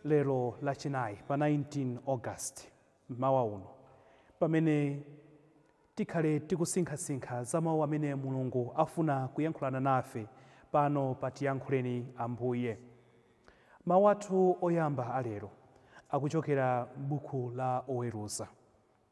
Lero Lachinayi pa 19 August, mmawa uno, pamene tikhale tikusinkhasinkha za Mawu amene Mulungu afuna kuyankhulana nafe pano pa Tiyankhuleni Ambuye. Mawu athu oyamba a lero akuchokera m'Buku la Oweruza.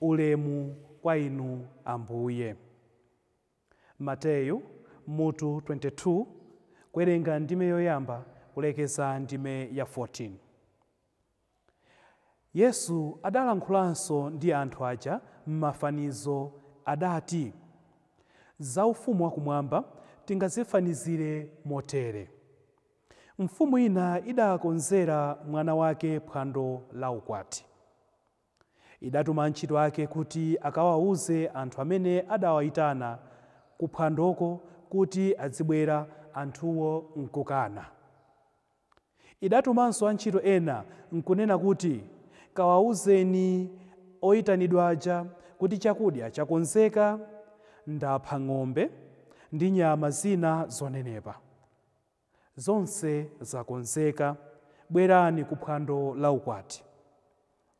Ulemu kwa Inu, Ambuye. Mateyu, mutu 22, kuwerenga ndime yoyamba kulekeza ndime ya 14. Yesu adalankhulanso ndi anthu aja m'mafanizo, adati, Za Ufumu wa Kumwamba tingazifanizire motere, Mfumu ina idaakonzera mwana wake phwando laukwati. Idatuma antchito ake kuti akawauze anthu amene adaawaitana kuphwandoko kuti adzibwera, anthuwo nkukana. Idatumanso antchito ena nkunena kuti, Kawauzeni oitanidwa aja kuti chakudya chakonzeka, ndapha ng'ombe ndi nyama zina zonenepa. Zonse zakonzeka, bwerani ku phwando la ukwati.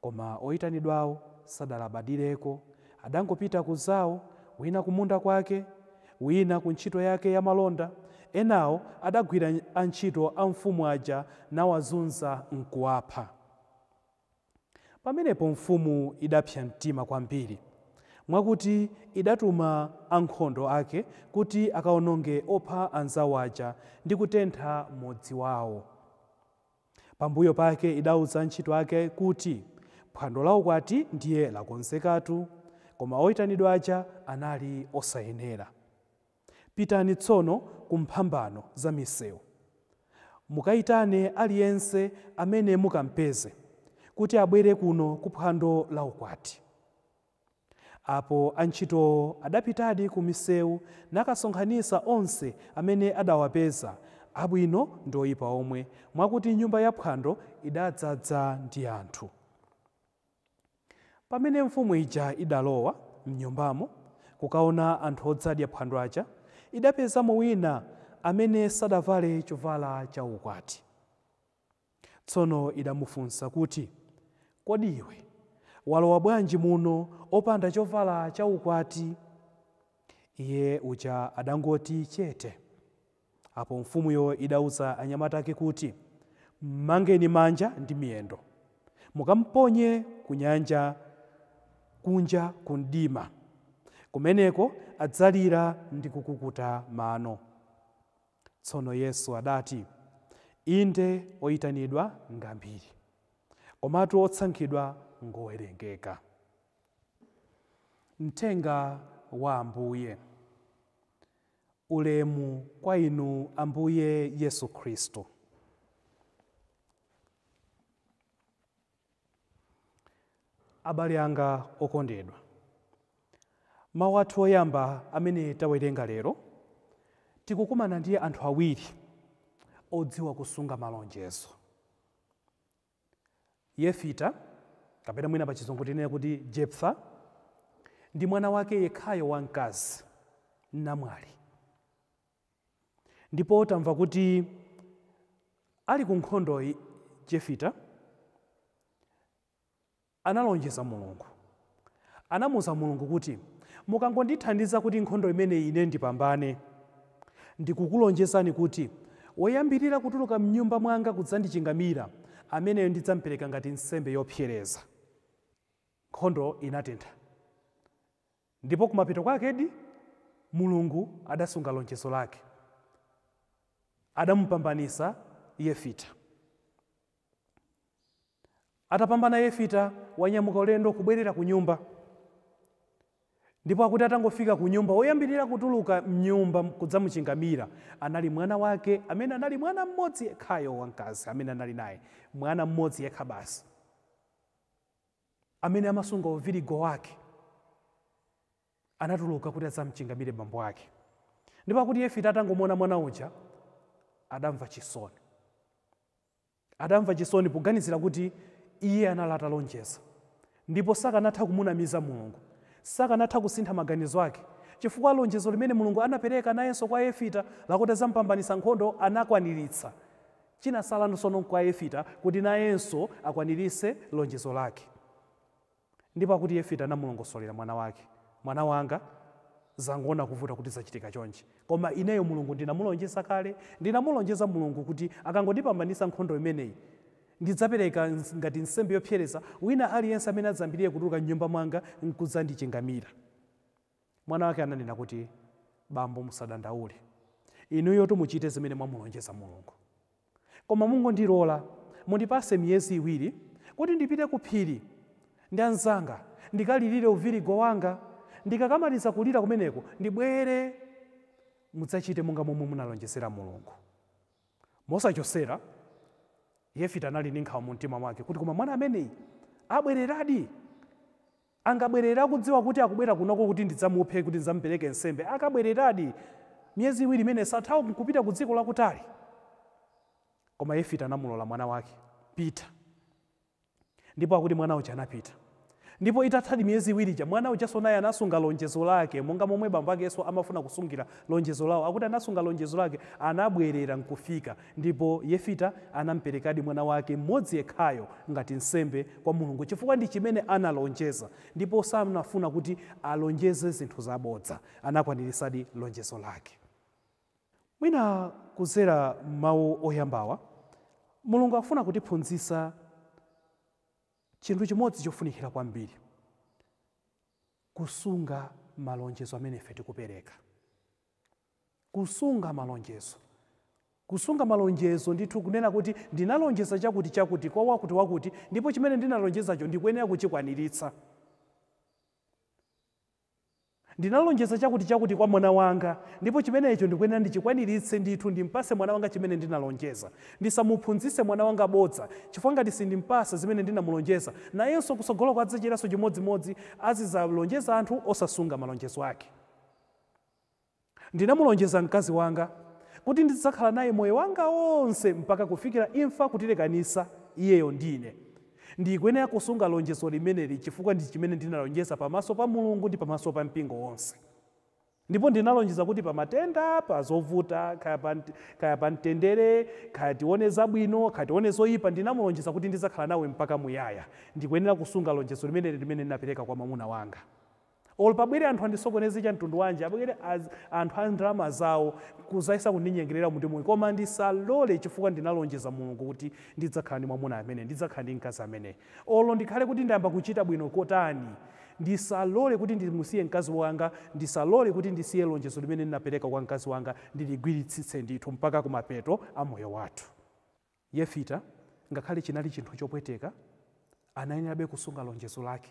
Koma oyitanidwawo sadalabadireko, adangopita ku zawo, wina kumunda kwake, wina ku ntchito yake ya malonda, enawo adagwira antchito a mfumu aja nawazunza nkuwapha. Pamenepo mfumu idapsa mtima kwambiri, mwakuti idatuma ankhondo ake kuti akaononge opha anzao aja ndi kutentha mudzi wao. Pambuyo pake idauza antchito ake kuti, Phwando laukwati ndiye lakonzekatu, koma oitanidwa aja anali osayenera. Pitani tsono ku mphambano za miseu. Mukaitane aliyense amene mukampeze, kuti abwere kuno ku phwando la ukwati. Apo antchitowo adapitadi ku miseu nakasonkhanitsa onse amene adawapeza, abwino ndi oipa omwe, mwakuti nyumba yaphwando idadzadza ndi anthu. Pamene mfumu ija idalowa m'nyumbamo kukaona anthu odzadya phwando aja, idapezamo wina amene sadavale chovala chaukwati. Tsono idamufunsa kuti, Kodi iwe walowa bwanji muno opanda chovala chaukwati? Iye uja adangoti chete. Apo mfumuyo idauza anyamata ake kuti, Mmangeni manja ndi miyendo, mukamponye ku nyanja kunja ku mdima. Kumeneko adzalira ndi kukukuta mano. Tsono Yesu adati, Inde oitanidwa ngambiri, komatu otsankhidwa ngowerengeka. Mthenga wa Ambuye. Ulemu kwa Inu, Ambuye Yesu Khristu. Abale anga okondedwa, mawu athu oyamba amene tawerenga lero, tikukumana ndi anthu awiri odziwa kusunga malonjezo. Yefita, kapena mwina pachizungu tinene kuti Jephtha, ndi mwana wake yekhayo wamkazi, namwali. Ndipo tamva kuti ali kunkhondo Yefita, analonjeza Mulungu. Anamuuza Mulungu kuti, Mukangondithandiza kuti nkhondo imeneyi ine ndipambane, ndikukulonjezani kuti woyambirira kutuluka m'nyumba mwanga kudzandichingamira, ameneyo ndidzampereka ngati nsembe yopsereza. Nkhondo inatentha. Ndipo kumapeto kwakedi Mulungu adasunga lonjezo lake. Adamupambanitsa Yefita. Atapambana Yefita wanyamuka ulendo kubwerera kunyumba. Ndipo akuti atangofika kunyumba, woyambirira kutuluka m'nyumba kudzamuchingamira anali mwana wake amene anali mwana mmodzi yekhayo wamkazi amene anali naye, mwana mmodzi yekha basi amene amasunga uvirigo wake. Anatuluka kuti adzachingamire bambo ake. Ndipo akuti Yefita atangomuona mwana uja, adamva chisoni. Adamva chisoni poganizira kuti iye anali atalonjeza ndipo sakanatha kumunamiza Mulungu. Sakanatha kusintha maganizo ake chifukwa lonjezo limene Mulungu anapereka nayenso kwa Yefita lakuti adzamupambanitsa nkhondo anakwaniritsa. Chinatsala tsono n'kwa Yefita kuti nayenso akwaniritse lonjezo lake. Ndipo akuti Yefita anamulongosolera mwana wake, Mwana wanga, zangoona kuvuta kuti zachitika chonchi. Koma ineyo Mulungu ndinamulonjeza kale. Ndinamulonjeza Mulungu kuti akangondipambanitsa nkhondo imeneyi, ndidzapereka ngati nsembe yopsereza wina aliyense amene adzayambirire kutuluka m'nyumba mwanga n'kudzandichingamira. Mwana wake ananena kuti, Bambo musadandaule. Inuyotu muchite zimene mwamulonjeza Mulungu. Koma mungondilora, mundipatse miyezi iwiri kuti ndipite kuphiri ndi anzanga ndikalirire uvirigo wanga. Ndikakamaliza kulira kumeneko, ndibwere mudzachite monga momwe munalonjezera Mulungu. Mosachotsera, Yefita anali ndi nkhawa mumtima mwake kuti, Koma mwana ameneyi abwereradi? Angabwerere akudziwa kuti akubwera kunoko kuti ndidzamuphe kuti ndidzamupereke nsembe? Akabwereradi, miyezi iwiri imeneyo sathawa n'kupita kudziko lakutali? Koma Yefita anamulola mwana wake, Pita. Ndipo akuti mwana uja anapita. Ndipo itathadi miyezi iwiri ija, mwana ujanso naye anasunga lonjezo lake, monga momwe bambo akenso amafuna kusungira lonjezo lawo. Akuti anasunga lonjezo lake, anabwerera n'kufika. Ndipo Yefita anamperekadi mwana wake mmodzi yekhayo ngati nsembe kwa Mulungu chifukwa ndi chimene analonjeza ndipo sanafuna kuti alonjeze zinthu zabodza. Anakwanirisadi lonjezo lake. Mwina kudzera m'mawu oyambawa, Mulungu akufuna kutiphunzitsa chinthu chimodzi chofunikira kwambiri, kusunga malonjezo amene ife tikupereka. Kusunga malonjezo. Kusunga malonjezo, ndithu kunena kuti ndinalonjeza chakuti chakuti kwa wakuti wakuti ndipo chimene ndinalonjezacho ndikuyenera kuchikwaniritsa. Ndinalonjeza chakuti chakuti kwa mwana wanga ndipo chimenecho ndikuyenera ndichikwaniritse ndithu ndimpase mwana wanga chimene ndinalonjeza. Ndisamuphunzitse mwana wanga bodza chifukwa ngati sindimpasa zimene ndinamulonjeza nayenso kutsogoloko adzachitanso chimodzimodzi azidzalonjeza anthu osasunga malonjezo ake. Ndinamulonjeza mkazi wanga kuti ndidzakhala naye moyo wanga onse mpaka kufikira imfa kutilekanisa iyeyo ndi ine. Ndikuyenera kusunga lonjezo limeneli chifukwa ndi chimene ndinalonjeza pamaso pa Mulungu ndi pamaso pa mpingo wonse. Ndipo ndinalonjeza kuti pa matenda, pa zovuta, kaya pa mtendere, kaya tione zabwino, kaya tione zoyipa, ndinamulonjeza kuti ndidzakhala nawe mpaka muyaya. Ndikuyenera kusunga lonjezo limeneli limene ndinapereka kwa mwamuna wanga. olo pabwere anthu andisokoneze cha mtundu wanji abwere anthu a ndalama zawo nkuzayesa kundinyengelera mu timuyi koma ndisalore chifukwa ndinalonjeza Mulungu kuti ndidzakhala ndi mwamuna ameneyi ndidzakhala ndi mkazi ameneyi olo ndikhale kuti ndayamba kuchita bwino kotani ndisalore kuti ndimusiye mkazi wanga ndisalore kuti ndisiye lonjezo limene ndinapereka kwa mkazi wanga ndiligwiritsitse ndithu mpaka kumapeto a moyo wathu. Yefita ngakhale chinali chinthu chopweteka anayenerabe kusunga lonjezo lake.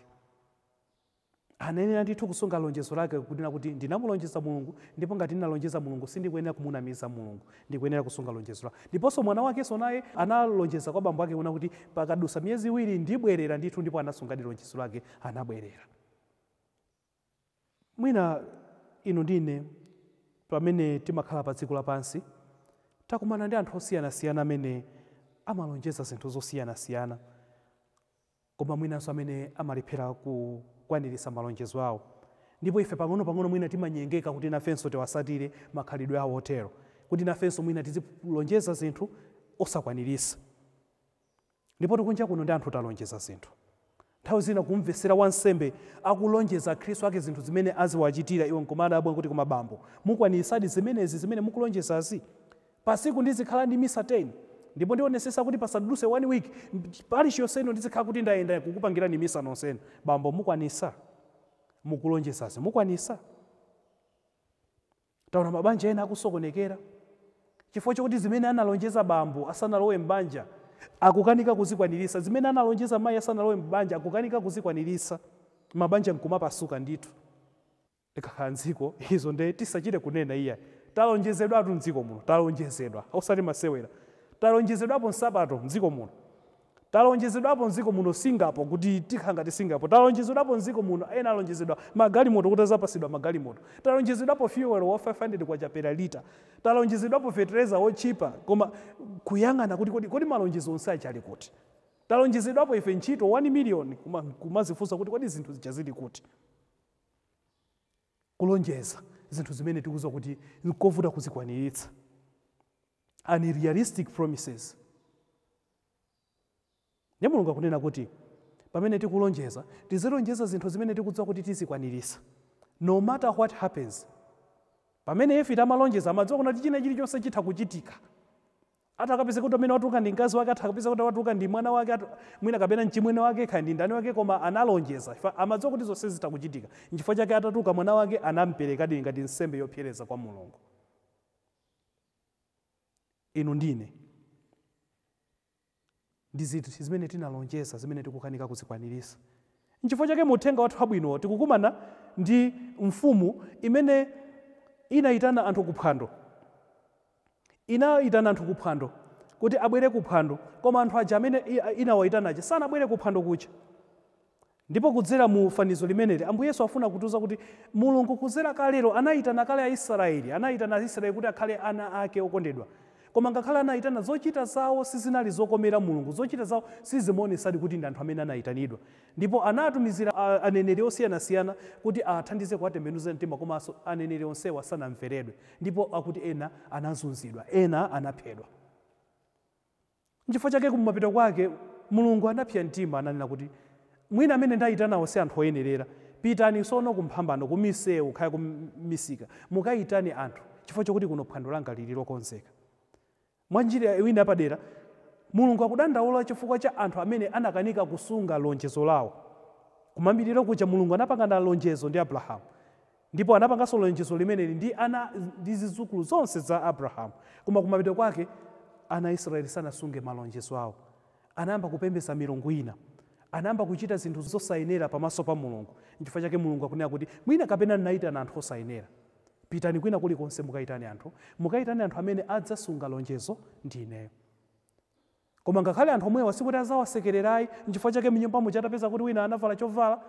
Anayenera ndithu kusunga lonjezo lake, kunena kuti, Ndinamulonjeza Mulungu, ndipo ngati ndinalonjeza Mulungu, sindikuyenera kumunamiza Mulungu. Ndikuyenera kusunga lonjezo langa. Ndiponso mwana wakenso naye analonjeza kwa bambo ake, kunena kuti, Pakadutsa miyezi iwiri ndibwerera ndithu, ndipo anasungadi lonjezo lake, anabwerera. Mwina inu ndi ine, pamene timakhala padziko lapansi, takumana ndi anthu osiyanasiyana amene amalonjeza zinthu zosiyanasiyana. koma mwinanso amene amalephera kukwaniritsa malonjezo awo. Ndipo ife pang'onopang'ono mwina timanyengeka kuti nafenso tiwatsatire makhalidwe awo otero, kuti nafenso mwina tizilonjeza zinthu osakwaniritsa. Ndipotu kunja kuno ndi anthu talonjeza zinthu. Nthawi zina kumumvetsera wansembe akulonjeza Akhristu ake zinthu zimene aziwachitira, iwe n'kumadabwa kuti koma bambo, mukwaniritsadi zimenezi zimene mukulonjezazi? Pasiku ndizikhala ndi misa 10 ndipo ndionesesa kuti pasaduse 1 week parish yonse ino ndizikhala kuti ndayenda kukupangirani misa nonsenu. Bambo mukwanisa? Mukulonjezazi mukwanisa? Taona mabanja ena akusokonekera chifukwa chokuti zimene analonjeza bambo asanalowe m'banja akukanika kuzikwanirisa, zimene analonjeza mayi asanalowe m'banja akukanika kuzikwanirisa, mabanja nkumapasuka ndithu. Ikakhala mdziko, izo ndiye tisachite kunena iyayi. Talonjezedwatu mdziko muno, talonjezedwa, osati masewera. Talonjezedwapo nsapato mdziko muno. Talonjezedwapo mdziko muno Singapore, kuti tikhala ngati Singapore. Talonjezedwapo mdziko muno, ena alonjezedwa magalimoto, kuti adzapatsidwa magalimoto. Talonjezedwapo fuel wa K500 per litre. Talonjezedwapo fetereza wotchipa, koma kuyang'ana kuti kodi, kodi malonjezo onse aja ali kuti? Talonjezedwapo ife ntchito 1 million, koma nkumadzifunsa kuti kodi zinthu zija zili kuti? kulonjeza zinthu zimene tikudziwa kuti n'kovuta kuzikwaniritsa, unrealistic promises. Ndiye Mulungu akunena kuti pamene tikulonjeza, tizilonjeza zinthu zimene tikudziwa kuti tizikwaniritsa, no matter what happens. Pamene Yefita amalonjeza, amadziwa kuti china chilichonse chitha kuchitika. Atakapezeka kuti amene watuluka ndi mkazi wake, atakapezeka kuti watuluka ndi mwana wake, at, mwina kapena mchimwene wake, kaya ndi ndani wake, koma analonjeza, chifukwa amadziwa kuti zonse zitha kuchitika, nchifukwa chake atatuluka mwana wake anamperekadi ngati nsembe yopsereza kwa Mulungu. Inu ndi ine. Ndi ziti zimene tinalonjeza zimene tikukanika kuzikwaniritsa? N'chifukwa chake mu Uthenga wathu Wabwino tikukumana ndi mfumu imene inayitana anthu ku phwando. Inayitana anthu ku phwando kuti abwere ku phwando, koma anthu aja amene inawayitana aja sanabwere ku phwando kuja. Ndipo kudzera mu fanizo limeneli, Ambuye Yesu afuna kutiuza kuti Mulungu kudzera kalero anaitana kale a Israyeli, anaitana a Israyeli kuti akhale ana Ake okondedwa. Koma ngakhale anaitana, zochita zawo sizinali zokomera Mulungu. Zochita zawo sizimaonesadi kuti ndi anthu amene anaitanidwa. Ndipo anaatumizira a, aneneri osiyanasiyana kuti aathandize kuwatembenuza mtima koma aneneri onsewa sanamveredwe. Ndipo akuti ena anazunzidwa, ena anaphedwa. Nchifukwa chake kumapeto kwake Mulungu anapsya mtima nanena kuti, Mwina amene ndaitanawo si anthu oyenerera. Pitani tsono ku mphambano, ku miseu, kaya ku misika, mukaitane anthu, chifukwa chakuti kuno phwando langa liri lokonzeka. Mwa njira ina yapadera, Mulungu akudandaula chifukwa cha anthu amene anakanika kusunga lonjezo lao. Kumayambiriro kuja Mulungu anapangana lonjezo ndi Abrahamu. Ndipo anapanganso lonjezo limeneli ndi ana ndi zidzukulu zonse za Abrahamu. Koma kumapeto kwake, ana a Isiraeli sanasunge malonjezo awo. Anayamba kupembedza milungu ina. Anayamba kuchita zinthu zosayenera pamaso pa Mulungu. N'chifukwa chake Mulungu akunena kuti, Mwina kapena ndinaitana anthu osayenera. Pitani kwina kulikonse mukaitane anthu. Mukaitane anthu amene adzasunga lonjezo ndi ineyo. Koma ngakhale anthu omwewa sikuti azawasekelera ayi nchifukwa chake mnyumba muja atapeza kuti wina anavala chovala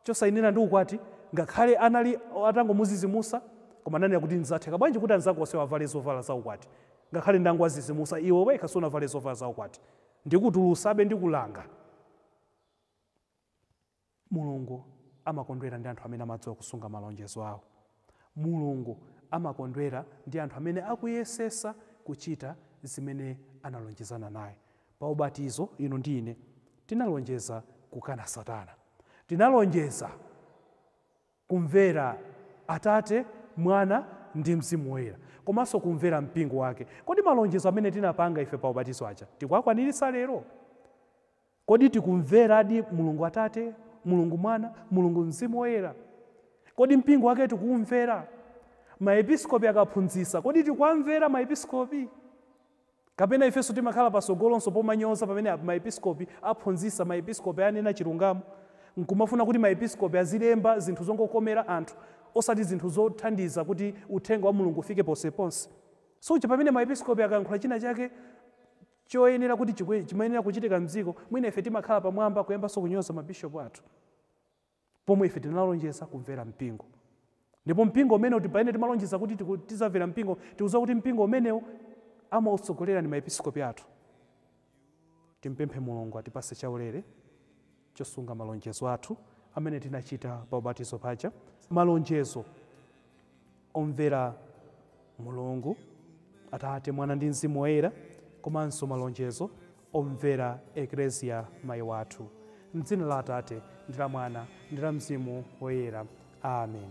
chosayenera ndi ukwati ngakhale anali atangomuzizimusa koma ananena kuti zatheka bwanji kuti anzako onsewa avale zovala za ukwati ngakhale ndangowazizimusa iwe wekha sunavale zovala za ukwati ndikutulusabe ndikulanga Mulungu amakondwera ndi anthu amene amadziwa kusunga malonjezo awo. Mulungu amakondwera ndi anthu amene akuyesesa kuchita zimene analonjezana naye. Pa ubatizo, inu ndi ine tinalonjeza kukana Satana. Tinalonjeza kumvera Atate, Mwana, ndi Mzimu Woyera, komanso kumvera mpingo Wake. Kodi malonjezo amene tinapanga ife pa ubatizo aja tikuwakwaniritsa lero? Kodi tikumveradi Mulungu Atate, Mulungu Mwana, Mulungu Mzimu Woyera? Kodi mpingo wake tikuwumvera? Ma episkopi akaphunzitsa, kodi tikuwamvera ma episkopi? Kapena ifenso timakhala patsogolonso pomanyoza pamene a, ma episkopi aphunzitsa, ma episkopi anena chilungamo, nkumafuna kuti ma episkopi azilemba zinthu zongokomera anthu, osati zinthu zothandiza kuti uthenga wa Mulungu ufike ponseponse? Suja pamene ma episkopi akayankhula china chake, choyenera kuti chikwe, chimayenera kuchitika mdziko, mwina ife timakhala pamwamba kuyambanso kunyoza mabishopu athu, pomwe ife tinalonjeza kumvera mpingo. Ndipo mpingo umenewu ti- pamene timalonjeza kuti tiku- tidzamvera mpingo, tikudziwa kuti mpingo umenewu amautsogolera ndi maepiskopi athu. Timpemphe Mulungu atipatse chaulere chosunga malonjezo athu amene tinachita pa ubatizo paja, malonjezo omvera Mulungu, Atate, Mwana ndi Mzimu Woyera, komanso malonjezo omvera Eklezia Mayi wathu. M'dzina la Atate, ndi la Mwana, ndi la Mzimu Woyera. Amen.